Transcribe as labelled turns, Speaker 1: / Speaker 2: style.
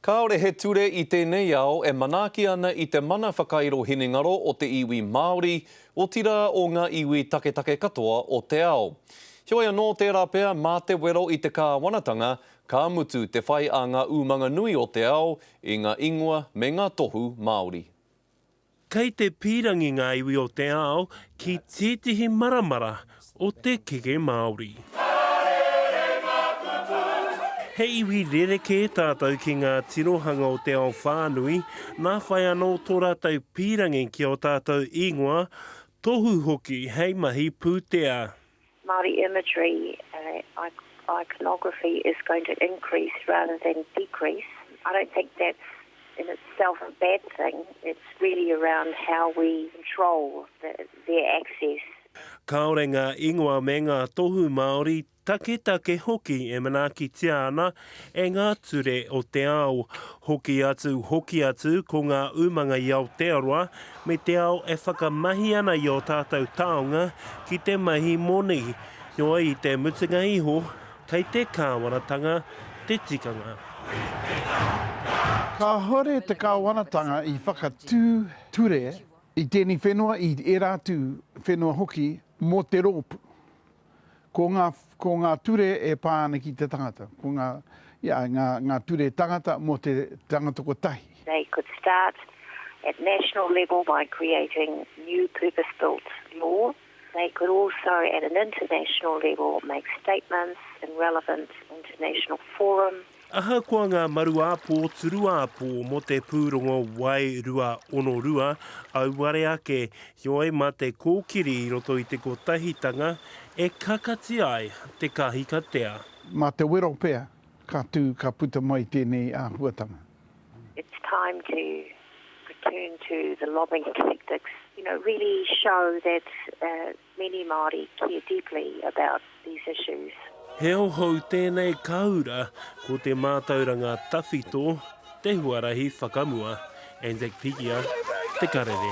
Speaker 1: Kāore he ture i tēnei ao e manaaki ana i te mana whakairo hinengaro o te iwi Māori, otirā o ngā iwi taketake katoa o te ao. Heoi anō, tērā pea mā te wero i te kāwanatanga, ka mutu te whai a ngā umanga nui o te ao i ngā ingoa me ngā tohu Māori. Kei
Speaker 2: te pīrangi ngā iwi o te ao ki tētehi maramara o te keke Māori. He iwi rerekē tātou ki ngā tirohanga o te ao whānui, nā whai anō tō rātou pīrangi ki ō tātou ingoa, tohu hoki hei mahi pūtea. Māori
Speaker 3: imagery, iconography is going to increase rather than decrease. I don't think that's in itself a bad thing, it's really around how we control their access. Kāore ngā
Speaker 2: ingoa me ngā tohu Māori, taketake hoki e manaakitia ana e ngā ture o te ao. Hoki atu, hoki atu, ko ngā umanga i Aotearoa me te ao e whakamahi ana i ō tātou taonga ki te mahi moni. Heoi, i te mutunga iho, kei te Kāwanatanga te tikanga.
Speaker 4: Kāore te Kāwanatanga i whakatū ture i tēnei whenua, i ērā atu whenua hoki mō te rōpū. Ko ngā, ko ngā ture e pā ana ki te tangata, ko ngā, ia, ngā, ngā ture tangata mō te tangata kotahi. They could start
Speaker 3: at national level by creating new purpose-built law. They could also, at an international level, make statements in relevant international forums. Ahakoa ngā
Speaker 2: maru āpō, turu āpō mō te pūrongo Wae 2.02, auare ake, heoi mā te kōkiri i roto i te kotahitanga e kakati ai te kahikatea. Mā te wero
Speaker 4: pea ka tū, ka puta mai tēnei āhuatanga. It's
Speaker 3: time to return to the lobbying tactics, you know, really show that Many Māori care deeply about these issues. He ao hou
Speaker 2: tēnei ka ura ko te mātauranga tawhito, te huarahi whakamua, Anzac Pigia, Te Karere.